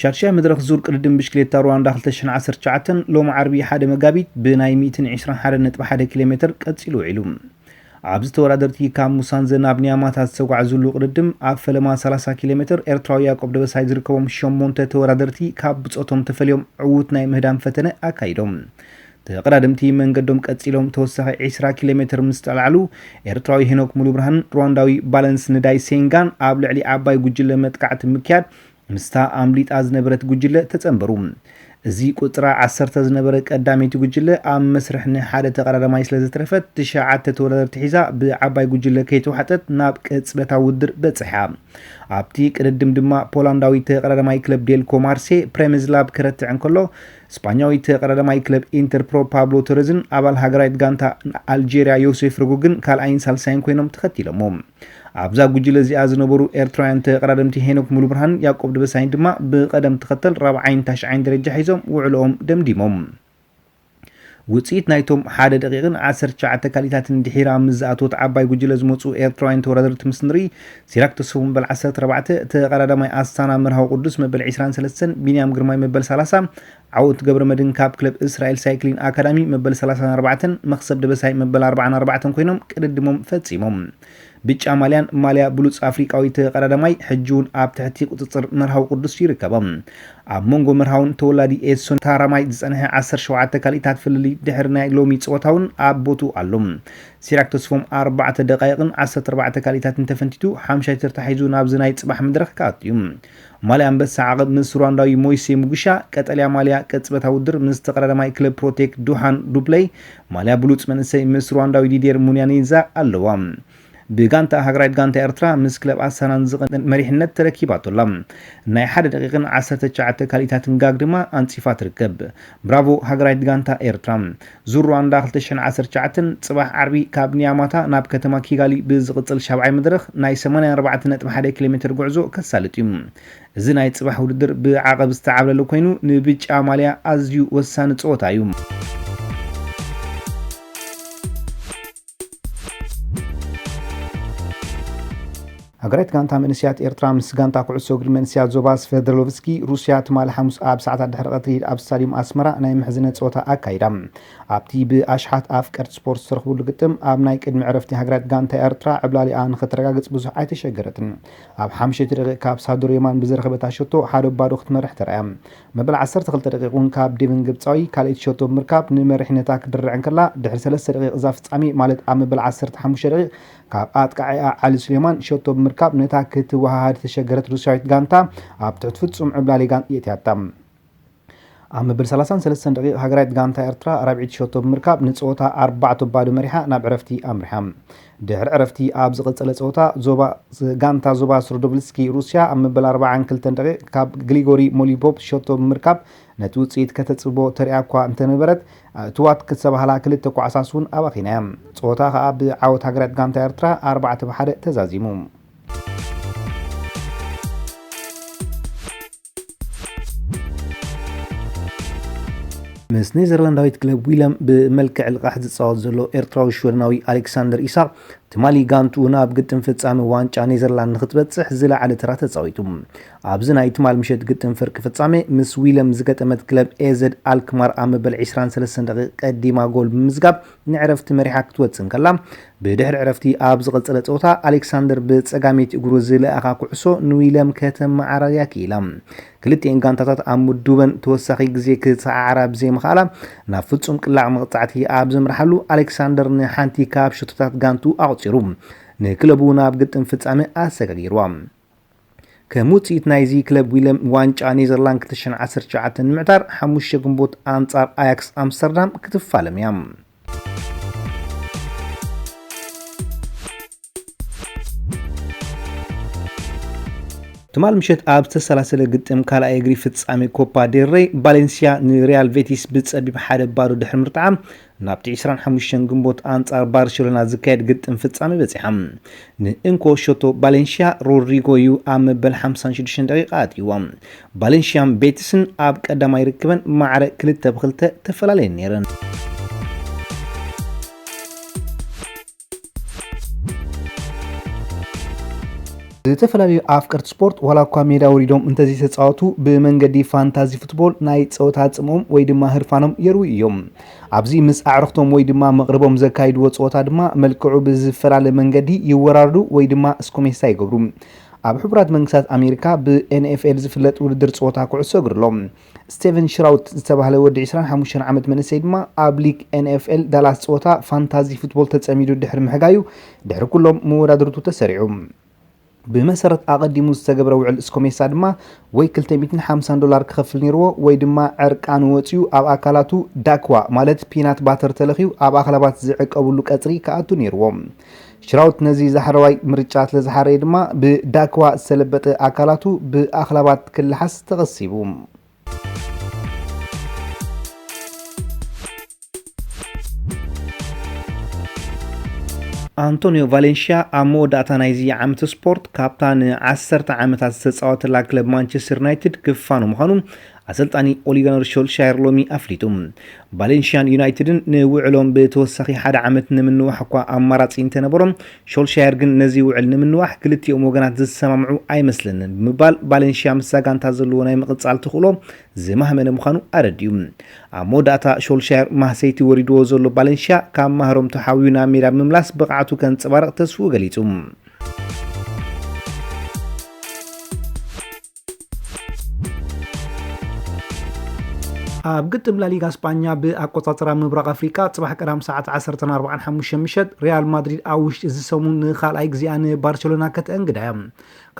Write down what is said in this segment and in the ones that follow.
ሻድሻይ መድረኽ ዙር ቅድድም ብሽክሌታ ሩዋንዳ ክልተ ሽሕን ዓሰርተ ትሽዓተን ሎሚ ዓርቢ ሓደ መጋቢት ብናይ ሚእትን ዕስራን ሓደ ነጥቢ ሓደ ኪሎ ሜተር ቀፂሉ ውዒሉ። ኣብዚ ተወዳደርቲ ካብ ሙሳንዘ ናብ ኒያማታ ዝተጓዕዙሉ ቅድድም ኣብ ፈለማ ሰላሳ ኪሎ ሜተር ኤርትራዊ ያቆብ ደበሳይ ዝርከቦም ሸሞንተ ተወዳደርቲ ካብ ብፆቶም ተፈልዮም ዕዉት ናይ ምህዳም ፈተነ ኣካይዶም። ተቐዳደምቲ መንገዶም ቀጺሎም ተወሳኺ ዕስራ ኪሎ ሜትር ምስ ጠልዓሉ፣ ኤርትራዊ ሄኖክ ሙሉብርሃንን ሩዋንዳዊ ባለንስ ንዳይ ሴንጋን ኣብ ልዕሊ ዓባይ ጉጅለ መጥቃዕቲ ብምክያድ ምስታ ኣምሊጣ ዝነበረት ጉጅለ ተጸንበሩ። እዚ ቁጽራ ዓሰርተ ዝነበረ ቀዳመይቲ ጉጅለ ኣብ መስርሕ ንሓደ ተቐዳዳማይ ስለዘትረፈት ትሽዓተ ተወዳደርቲ ሒዛ ብዓባይ ጉጅለ ከይተዋሕጠት ናብ ቅጽበታዊ ውድድር በጽሓ። ኣብቲ ቅድድም ድማ ፖላንዳዊ ተቐዳዳማይ ክለብ ዴልኮ ማርሴ ፕሬምዝላብ ከረትዕ እንከሎ ስጳኛዊ ተቐዳዳማይ ክለብ ኢንተር ፕሮ ፓብሎ ቶረዝን ኣባል ሃገራዊት ጋንታ ኣልጀርያ ዮሴፍ ረጎግን ካልኣይን ሳልሳይን ኮይኖም ተኸቲሎሞ። ኣብዛ ጉጅለ እዚኣ ዝነበሩ ኤርትራውያን ተቐዳደምቲ ሄኖክ ሙሉብርሃንን ያቆብ ደበሳይን ድማ ብቐደም ተኸተል ራብዓይን ታሽዓይን ደረጃ ሒዞም ውዕሎኦም ደምዲሞም። ውጽኢት ናይቶም ሓደ ደቒቕን ዓሰርተ ትሽዓተ ካሊታትን ድሒራ ምስ ዝኣተወት ዓባይ ጉጅለ ዝመጹ ኤርትራውያን ተወዳደርቲ ምስ ንርኢ፣ ሲራክ ተስፉ መበል ዓሰርተ ኣርባዕተ፣ ተቐዳዳማይ ኣስታና መርሃዊ ቁዱስ መበል ዕስራን ሰለስተን፣ ቢንያም ግርማይ መበል ሰላሳ፣ ዓወት ገብረመድህን ካብ ክለብ እስራኤል ሳይክሊን ኣካዳሚ መበል ሰላሳን ኣርባዕተን፣ መኽሰብ ደበሳይ መበል ኣርባዓን ኣርባዕተን ኮይኖም ቅድድሞም ፈጺሞም። ብጫ ማልያን ማልያ ብሉጽ ኣፍሪቃዊ ተቐዳዳማይ ሕጂ እውን ኣብ ትሕቲ ቁጽጽር መርሃዊ ቅዱስ ይርከቦ። ኣብ መንጎ መርሃውን ተወላዲ ኤድሶን ታራማይ ዝጸንሐ ዓሰርተ ሸውዓተ ካልኢታት ፍልልይ ድሕሪ ናይ ሎሚ ጸወታ እውን ኣብ ቦትኡ ኣሎ። ሲራክ ተስፎም ኣርባዕተ ደቓይቕን ዓሰርተ ኣርባዕተ ካልኢታትን ተፈንቲቱ ሓምሻይ ተርታ ሒዙ ናብዚ ናይ ጽባሕ መድረኽ ክኣቱ እዩ። ማልያ ኣንበሳ ዓቕብ ምስ ሩዋንዳዊ ሞይሴ ሙግሻ፣ ቀጠልያ ማልያ ቅጽበታዊ ውድድር ምስ ተቐዳዳማይ ክለብ ፕሮቴክ ዱሓን ዱፕለይ፣ ማልያ ብሉጽ መንእሰይ ምስ ሩዋንዳዊ ዲድየር ሙንያኒንዛ ኣለዋ። ብጋንታኣ ሃገራዊት ጋንታ ኤርትራ ምስ ክለብ ኣሳናን ዝቕን መሪሕነት ተረኪባቶ ኣላ። ናይ ሓደ ደቒቕን ዓሰርተ ትሽዓተ ካልኢታትን ጋግ ድማ ኣንጺፋ ትርከብ። ብራቮ ሃገራዊት ጋንታ ኤርትራ! ዙር ሩዋንዳ ክልተ ሽሕን ዓሰርተ ትሽዓተን ፅባሕ ዓርቢ ካብ ኒያማታ ናብ ከተማ ኪጋሊ ብዝቕፅል ሻብዓይ መድረኽ ናይ ሰማንያ ኣርባዕተ ነጥቢ ሓደ ኪሎ ሜትር ጉዕዞ ከሳልጥ እዩ። እዚ ናይ ፅባሕ ውድድር ብዓቐብ ዝተዓብለለ ኮይኑ ንብጫ ማልያ ኣዝዩ ወሳኒ ፀወታ እዩ። ሃገራዊት ጋንታ መንእሰያት ኤርትራ ምስ ጋንታ ኩዕሶ እግሪ መንእሰያት ዞባ ስቨርደሎቭስኪ ሩስያ ትማሊ ሓሙስ ኣብ ሰዓታት ድሕሪ ቀትሪ ኣብ ስታድዩም ኣስመራ ናይ ምሕዝነት ጸወታ ኣካይዳ። ኣብቲ ብኣሽሓት ኣፍቀርቲ ስፖርት ዝተረኽብሉ ግጥም ኣብ ናይ ቅድሚ ዕረፍቲ ሃገራዊት ጋንታ ኤርትራ ዕብላሊኣ ንኸተረጋግጽ ብዙሕ ኣይተሸገረትን። ኣብ ሓምሸይቲ ደቂቕ ካብ ሳዶር የማን ብዝረኸበታ ሸቶ ሓደ ባዶ ክትመርሕ ተራእያ። መበል ዓሰርተ ክልተ ደቒቕ እውን ካብ ዴቨን ግብጻዊ ካልኣይቲ ሸቶ ብምርካብ ንመሪሕነታ ክትድርዕ እንከላ፣ ድሕሪ ሰለስተ ደቒቕ እዛ ፍጻሜ ማለት ኣብ መበል ዓሰርተ ሓሙሽተ ደቒቕ ካብ ኣጥቃዒኣ ዓሊ ሱሌማን ሸቶ ብምርካብ ነታ ክትወሃሃድ ዝተሸገረት ሩስያዊት ጋንታ ኣብ ትሕቲ ፍጹም ዕብላሊ የእትያታ። ኣብ መበል ሰላሳን ሰለስተን ደቒቕ ሃገራዊት ጋንታ ኤርትራ ራብዒይቲ ሸቶ ብምርካብ ንጸወታ ኣርባዕተ ባዶ መሪሓ ናብ ዕረፍቲ ኣምሪሓ። ድሕሪ ዕረፍቲ ኣብ ዝቐጸለ ጸወታ ዞባ ጋንታ ዞባ ስሩዶብልስኪ ሩስያ ኣብ መበል ኣርባዓን ክልተን ደቒቕ ካብ ግሊጎሪ ሞሊፖፕ ሸቶ ብምርካብ ነቲ ውጽኢት ከተጽብቦ ተሪኣ'ኳ እንተነበረት ኣእትዋት ክተባህላ ክልተ ኳዕሳስ እውን ኣባኺና'ያ። ጸወታ ከኣ ብዓወት ሃገራዊት ጋንታ ኤርትራ ኣርባዕተ ብ ሓደ ተዛዚሙ። ምስ ኔዘርላንዳዊት ክለብ ዊለም ብመልክዕ ልቓሕ ዝፃወት ዘሎ ኤርትራዊ ሽወደናዊ ኣሌክሳንደር ኢሳቕ ትማሊ ጋንትኡ ናብ ግጥም ፍጻመ ዋንጫ ኔዘርላንድ ንክትበጽሕ ዝለዓለ ተራ ተፃዊቱ ኣብዚ ናይ ትማል ምሸት ግጥም ፍርቂ ፍጻመ ምስ ዊለም ዝገጠመት ክለብ ኤዘድ ኣልክማር ኣብ መበል 23 ደቂቕ ቀዲማ ጎል ብምምዝጋብ ንዕረፍቲ መሪሓ ክትወጽእ እንከላ፣ ብድሕሪ ዕረፍቲ ኣብ ዝቐጸለ ጸወታ፣ ኣሌክሳንደር ብጸጋመይቲ እግሩ ዝለኣኻ ኩዕሶ ንዊልያም ከተመዓራርያ ክኢላ። ክልቲኤን ጋንታታት ኣብ ምዱበን ተወሳኺ ግዜ ክሰዓዓራ ብዘይምኽኣላ፣ ናብ ፍጹም ቅላዕ መቕጻዕቲ ኣብ ዘምርሓሉ፣ ኣሌክሳንደር ንሓንቲ ካብ ሸቶታት ጋንትኡ ኣቑጺሩ፣ ንክለቡ ናብ ግጥም ፍጻመ ኣሰጋጊርዋ። ከም ውጽኢት ናይዚ ክለብ ዊለም ዋንጫ ኔዘርላንድ 2019 ንምዕታር 5 ግንቦት ኣንጻር ኣያክስ ኣምስተርዳም ክትፋለም እያ። ትማል ምሸት ኣብ ዝተሰላሰለ ግጥም ካልኣይ እግሪ ፍጻሜ ኮፓ ዴል ሬይ ባሌንሲያ ንሪያል ቬቲስ ብጸቢብ ሓደ ባዶ ድሕሪ ምርትዓ ናብቲ ዕስራን ሓሙሽተን ግንቦት ኣንጻር ባርሸሎና ዝካየድ ግጥም ፍጻመ በጺሓ። ንእንኮ ሸቶ ባሌንሽያ ሮድሪጎ'ዩ ኣብ መበል ሓምሳን ሽዱሽተን ደቂቃ ኣእትይዎ። ባሌንሽያን ቤቲስን ኣብ ቀዳማይ ርክበን ማዕረ ክልተ ብክልተ ተፈላለየን ነይረን። ዝተፈላለዩ ኣፍቀርቲ ስፖርት ዋላ እኳ ሜዳ ወሪዶም እንተዘይተፃወቱ ብመንገዲ ፋንታዚ ፉትቦል ናይ ፀወታ ፅምኦም ወይ ድማ ህርፋኖም የርውዩ እዮም። ኣብዚ ምስ ኣዕርኽቶም ወይ ድማ መቕርቦም ዘካይድዎ ፀወታ ድማ መልክዑ ብዝፈላለ መንገዲ ይወራርዱ ወይ ድማ እስኮሜሳ ይገብሩ። ኣብ ሕቡራት መንግስታት ኣሜሪካ ብኤንኤፍኤል ዝፍለጥ ውድድር ፀወታ ኩዕሶ እግሪ ኣሎ። ስቴቨን ሽራውት ዝተባህለ ወዲ ዕስራን ሓሙሽተን ዓመት መንእሰይ ድማ ኣብ ሊግ ኤንኤፍኤል ዳላስ ጸወታ ፋንታዚ ፉትቦል ተጸሚዱ ድሕሪ ምሕጋዩ ድሕሪ ኩሎም መወዳድርቱ ተሰሪዑ። ብመሰረት ኣቐዲሙ ዝተገብረ ውዕል ስኮሜሳ ድማ ወይ ክልተ ሚእትን ሓምሳን ዶላር ክኸፍል ነይርዎ ወይ ድማ ዕርቃኑ ወጺኡ ኣብ ኣካላቱ ዳክዋ ማለት ፒናት ባተር ተለኽዩ ኣብ ኣኽላባት ዝዕቀብሉ ቀጽሪ ክኣቱ ነይርዎ። ሽራውት ነዚ ዛሕረዋይ ምርጫ ስለ ዝሓረየ ድማ ብዳክዋ ዝተለበጠ ኣካላቱ ብኣኽላባት ክለሓስ ተቐሲቡ። ኣንቶንዮ ቫሌንሽያ ኣብ መወዳእታ ናይዚ ዓመት ስፖርት ካብታ ንዓሰርተ ዓመታት ዝተፃወተላ ክለብ ማንቸስተር ዩናይትድ ክፋኑ ምዃኑ ኣሰልጣኒ ኦሊጋነር ሾልሻየር ሎሚ ኣፍሊጡ። ቫሌንሽያን ዩናይትድን ንውዕሎም ብተወሳኺ ሓደ ዓመት ንምንዋሕ እኳ ኣማራጺ እንተነበሮም፣ ሾልሻየር ግን ነዚ ውዕል ንምንዋሕ ክልቲኦም ወገናት ዝሰማምዑ ኣይመስለንን ብምባል ቫሌንሽያ ምስዛ ጋንታ ዘለዎ ናይ ምቕጻል ተኽእሎ ዝማህመነ ምዃኑ ኣረዲኡ። ኣብ መወዳእታ ሾልሻየር ማህሰይቲ ወሪድዎ ዘሎ ቫሌንሽያ ካብ ማህረምቱ ሓውዩ ናብ ሜዳ ብምምላስ ብቕዓቱ ከንጸባርቕ ተስፍኡ ገሊጹ። ኣብ ግጥም ላሊጋ ስጳኛ ብኣቆጻጽራ ምብራቕ ኣፍሪቃ ጽባሕ ቀዳም ሰዓት 14:45 ምሸት ሪያል ማድሪድ ኣብ ውሽጢ እዚ ሰሙን ንኻልኣይ ግዜኣ ንባርቸሎና ከተእንግዳ እያ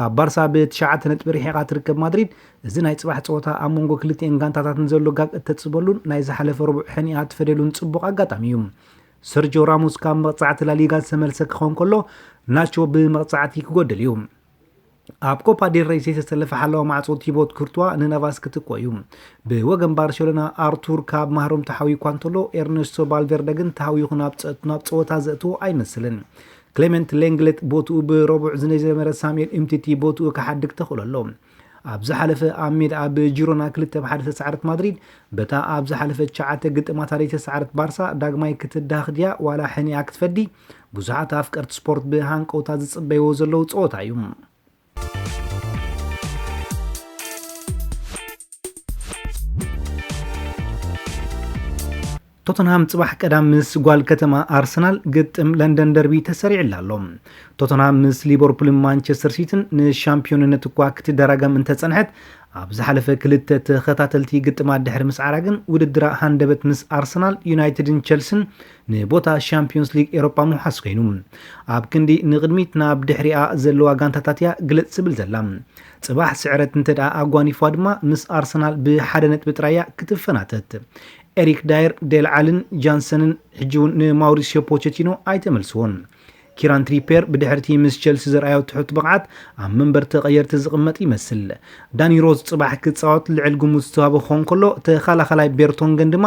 ካብ ባርሳ ብትሽዓተ ነጥቢ ርሒቓ ትርከብ ማድሪድ እዚ ናይ ጽባሕ ጸወታ ኣብ መንጎ ክልቲኤን ጋንታታት ንዘሎ ጋግ እተጽበሉን ናይ ዝሓለፈ ረቡዕ ሕኒኣ ትፈደሉን ጽቡቕ ኣጋጣሚ እዩ ሰርጆ ራሞስ ካብ መቕጻዕቲ ላሊጋ ዝተመልሰ ክኸውን ከሎ ናቾ ብመቕጻዕቲ ክጎድል እዩ ኣብ ኮፓ ዴል ረይ ዘይተሰለፈ ሓላዊ ማዕጾ ቲቦት ኩርቱዋ ንናቫስ ክትኮ እዩ። ብወገን ባርሴሎና ኣርቱር ካብ ማህሮም ተሓውዩ እኳ እንተሎ ኤርነስቶ ቫልቨርደ ግን ተሃውዩ ናብ ጸወታ ዘእትዎ ኣይመስልን። ክሌመንት ሌንግሌት ቦትኡ ብረቡዕ ዝጀመረ ሳሙኤል እምቲቲ ቦትኡ ክሓድግ ተኽእሎ ኣሎ። ኣብ ዝሓለፈ ኣብ ሜድኣ ብጂሮና ክልተ ብ ሓደ ዝተሰዓረት ማድሪድ በታ ኣብ ዝሓለፈ ትሽዓተ ግጥማታ ዘይተሰዓረት ባርሳ ዳግማይ ክትዳህኽ ድያ ዋላ ሕኒኣ ክትፈዲ ብዙሓት ኣፍቀርቲ ስፖርት ብሃንቀውታ ዝጽበይዎ ዘለዉ ጸወታ እዩ። ቶተንሃም ጽባሕ ቀዳም ምስ ጓል ከተማ ኣርሰናል ግጥም ለንደን ደርቢ ተሰሪዕላ ኣሎ ቶተንሃም ምስ ሊቨርፑልን ማንቸስተር ሲቲን ንሻምፒዮንነት እኳ ክትደራገም እንተጸንሐት ኣብ ዝሓለፈ ክልተ ተኸታተልቲ ግጥማት ድሕሪ ምስዓራ ግን ውድድራ ሃንደበት ምስ ኣርሰናል ዩናይትድን ቸልሲን ንቦታ ሻምፕዮንስ ሊግ ኤሮፓ ምውሓስ ኮይኑ። ኣብ ክንዲ ንቕድሚት ናብ ድሕሪኣ ዘለዋ ጋንታታት እያ ግልጽ ትብል ዘላ። ጽባሕ ስዕረት እንተድኣ ኣጓኒፋ ድማ ምስ ኣርሰናል ብሓደ ነጥቢ ጥራይ እያ ክትፈናተት። ኤሪክ ዳየር፣ ዴል ዓልን ጃንሰንን ሕጂ'ውን ንማውሪስዮ ፖቸቲኖ ኣይተመልስዎን። ኪራን ትሪፔር ብድሕሪቲ ምስ ቸልሲ ዘርኣዮ ትሑት ብቕዓት ኣብ መንበር ተቐየርቲ ዝቕመጥ ይመስል። ዳኒ ሮዝ ጽባሕ ክጻወት ልዕል ግምት ዝተዋህቦ ክኸውን ከሎ፣ ተኸላኻላይ ቤርቶንገን ድማ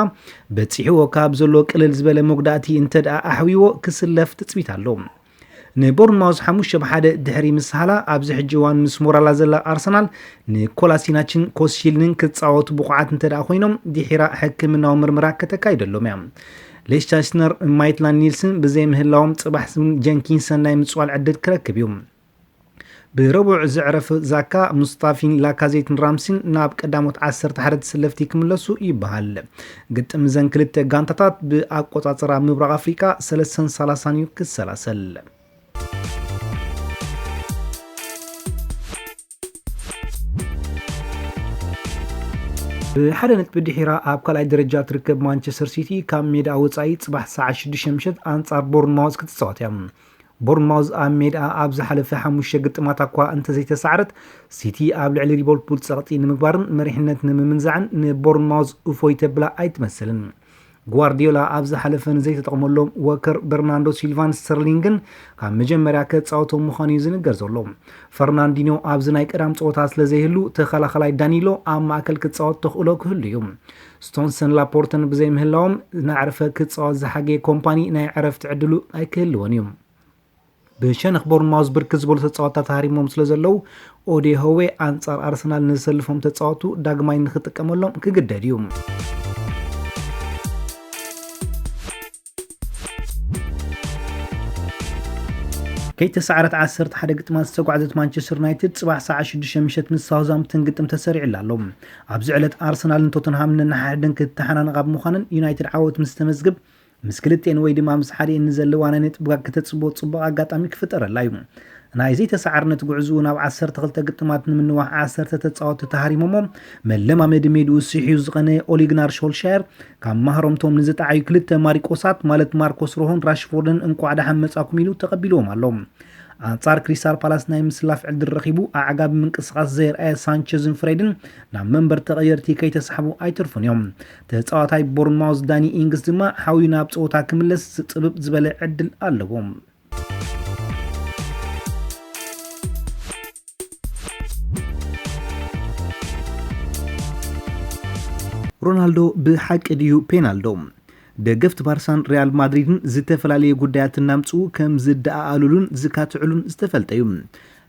በጺሕዎ ካብ ዘሎ ቅልል ዝበለ መጉዳእቲ እንተድኣ ኣሕዊዎ ክስለፍ ትጽቢት ኣሎ። ንቦርንማውዝ ሓሙሽተ ብ ሓደ ድሕሪ ምስሃላ ኣብዚ ሕጂ እዋን ምስ ሞራላ ዘላ ኣርሰናል ንኮላሲናችን ኮስሺልንን ክጻወቱ ብቑዓት እንተድኣ ኮይኖም ድሒራ ሕክምናዊ ምርመራ ከተካይደሎም እያ። ሌሽ ቻይስነር ን ማይትላንድ ኒልስን ብዘይምህላዎም ጽባሕ ን ጀንኪንሰን ናይ ምጽዋል ዕድል ክረክብ እዩ። ብረቡዕ ዘዕረፍ ዛካ፣ ሙስጣፊን ላካዜትን ራምሲን ናብ ቀዳሞት ዓሰርተ ሓደ ተሰለፍቲ ክምለሱ ይበሃል። ግጥም እዘን ክልተ ጋንታታት ብኣቆጻጽራ ምብራቕ ኣፍሪቃ ሰለስተን ሰላሳን እዩ ክሰላሰል። ብሓደ ነጥቢ ድሒራ ኣብ ካልኣይ ደረጃ ትርከብ ማንቸስተር ሲቲ ካብ ሜዳ ወፃኢ ፅባሕ ሰዓት 6 ምሸት ኣንጻር ቦርንማውዝ ክትፃወት እያ ቦርንማውዝ ኣብ ሜዳ ኣብ ዝሓለፈ ሓሙሽተ ግጥማት እኳ እንተዘይተሳዕረት ሲቲ ኣብ ልዕሊ ሊቨርፑል ፀቕጢ ንምግባርን መሪሕነት ንምምንዛዕን ንቦርንማውዝ እፎይ ተብላ ኣይትመስልን ጓርዲዮላ ኣብ ዝሓለፈ ንዘይተጠቕመሎም ወከር በርናንዶ ሲልቫን ስተርሊንግን ካብ መጀመርያ ከፃወቶም ምዃኑ እዩ ዝንገር ዘሎ ፈርናንዲኖ ኣብዚ ናይ ቀዳም ፀወታ ስለ ዘይህሉ ተኸላኸላይ ዳኒሎ ኣብ ማእከል ክፃወት ተኽእሎ ክህሉ እዩ ስቶንሰን ላፖርተን ብዘይምህላዎም ናዕርፈ ክፃወት ዝሓገየ ኮምፓኒ ናይ ዕረፍቲ ዕድሉ ኣይክህልዎን እዩ ብሸነኽ ቦርንማውዝ ብርክት ዝበሉ ተፃወትታት ሃሪሞም ስለዘለዉ ኦዴ ሆዌ ኣንፃር ኣርሰናል ንዘሰልፎም ተፃወቱ ዳግማይ ንክጥቀመሎም ክግደድ እዩ። ከይተሳዕረት ዓሰርተ ሓደ ግጥማት ዝተጓዕዘት ማንቸስተር ዩናይትድ ጽባሕ ሰዓት ሽዱሽተ ምሸት ምስ ሳውዝሃምፕተን ግጥም ተሰሪዕላ ኣሎ። ኣብዚ ዕለት ኣርሰናልን ቶተንሃምን ነንሓድሕደን ክትተሓናነቓ ብምዃነን ዩናይትድ ዓወት ምስ ተመዝግብ ምስ ክልቴን ወይ ድማ ምስ ሓዲኤን ንዘለዋ ናይ ነጥብጋ ክተጽብቦ ጽቡቕ ኣጋጣሚ ክፍጠረላ እዩ። ናይ ዘይተሳዓርነት ጉዕዝኡ ናብ ዓሰርተ ክልተ ግጥማት ንምንዋሕ ዓሰርተ ተጻወቲ ተሃሪሞሞ መለማመዲ ሜድኡ ሲሒሁ ዝቐነ ኦሊግናር ሾልሻየር ካብ ማህረምቶም ንዝጠዓዩ ክልተ ማሪቆሳት ማለት ማርኮስ ሮሆን ራሽፎርድን እንቋዕ ደሓን መጻኩም ኢሉ ተቐቢልዎም ኣሎ። ኣንጻር ክሪስታል ፓላስ ናይ ምስላፍ ዕድል ረኺቡ ኣዕጋቢ ምንቅስቓስ ዘየርኣየ ሳንቸዝን ፍሬድን ናብ መንበር ተቐየርቲ ከይተሳሕቡ ኣይተርፉን እዮም። ተጻዋታይ ቦርንማውዝ ዳኒ ኢንግስ ድማ ሓውዩ ናብ ጸወታ ክምለስ ጽብብ ዝበለ ዕድል ኣለዎ። ሮናልዶ ብሓቂ ድዩ ፔናልዶ? ደገፍቲ ባርሳን ሪያል ማድሪድን ዝተፈላለዩ ጉዳያት እናምፅኡ ከም ዝደኣኣሉሉን ዝካትዕሉን ዝተፈልጠ እዩ።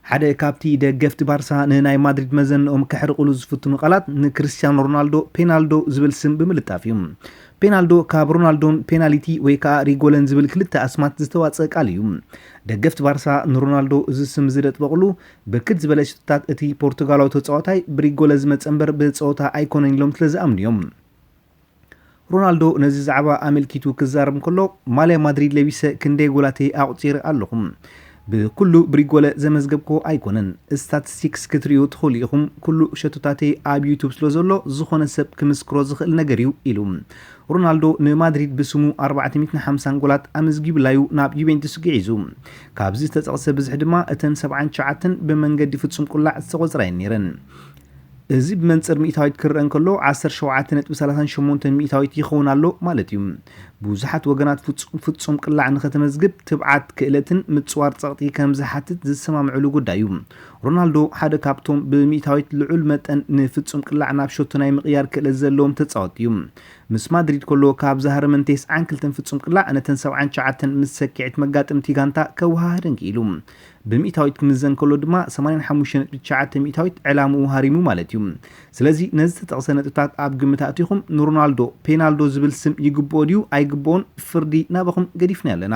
ሓደ ካብቲ ደገፍቲ ባርሳ ንናይ ማድሪድ መዘንኦም ከሕርቕሉ ዝፍትኑ ቃላት ንክርስትያኖ ሮናልዶ ፔናልዶ ዝብል ስም ብምልጣፍ እዩ። ፔናልዶ ካብ ሮናልዶን ፔናሊቲ ወይ ከኣ ሪጎለን ዝብል ክልተ ኣስማት ዝተዋጽእ ቃል እዩ። ደገፍቲ ባርሳ ንሮናልዶ እዚ ስም እዚ ደጥበቕሉ ብርክት ዝበለ ሽቶታት እቲ ፖርቱጋላዊ ተጻዋታይ ብሪጎለ ዝመጸ እምበር ብጸወታ ኣይኮነን ኢሎም ስለዝኣምኑ እዮም። ሮናልዶ ነዚ ዛዕባ ኣመልኪቱ ክዛረብ እንከሎ፣ ማልያ ማድሪድ ለቢሰ ክንደይ ጎላት'የ ኣቑጺረ ኣለኹ። ብኩሉ ብሪጎለ ዘመዝገብክዎ ኣይኮነን። ስታትስቲክስ ክትርእዩ ትኽእሉ ኢኹም። ኩሉ ሸቶታተይ ኣብ ዩቱብ ስለዘሎ ዝኾነ ሰብ ክምስክሮ ዝኽእል ነገር'ዩ ኢሉ። ሮናልዶ ንማድሪድ ብስሙ ኣርባዕተ ሚእትን ሓምሳን ጎላት ኣመዝጊቡላ'ዩ ናብ ዩቬንቱስ ግዒዙ። ካብዚ ዝተጠቕሰ ብዝሒ ድማ እተን ሰብዓን ትሽዓተን ብመንገዲ ፍጹም ቁላዕ ዝተቖጽራ'የን ነይረን። እዚ ብመንጽር ሚእታዊት ክረኣ እንከሎ ዓሰርተ ሸውዓተ ነጥቢ ሰላሳን ሸሞንተን ሚእታዊት ይኸውን ኣሎ ማለት እዩ። ብዙሓት ወገናት ፍጹም ፍጹም ቅላዕ ንኸተመዝግብ ትብዓት፣ ክእለትን ምጽዋር ጸቕጢ ከም ዝሓትት ዝሰማምዕሉ ጉዳይ እዩ። ሮናልዶ ሓደ ካብቶም ብሚእታዊት ልዑል መጠን ንፍጹም ቅላዕ ናብ ሸቶ ናይ ምቕያር ክእለት ዘለዎም ተጻወትቲ እዩ። ምስ ማድሪድ ከሎ ካብ ዝሃረመን ቴስዓን ክልተን ፍጹም ቅላዕ ነተን ሰብዓን ትሽዓተን ምስ ሰኪዔት መጋጥምቲ ጋንታ ከወሃህደን ክኢሉ። ብሚእታዊት ክምዘን ከሎ ድማ ሰማንያን ሓሙሽተ ነጥቢ ትሽዓተ ሚእታዊት ዕላምኡ ሃሪሙ ማለት እዩ። ስለዚ ነዚ ዝተጠቕሰ ነጥብታት ኣብ ግምት ኣእቲኹም ንሮናልዶ ፔናልዶ ዝብል ስም ይግብኦ ድዩ ኣይግብኦን ፍርዲ ናባኹም ገዲፍናዮ ኣለና።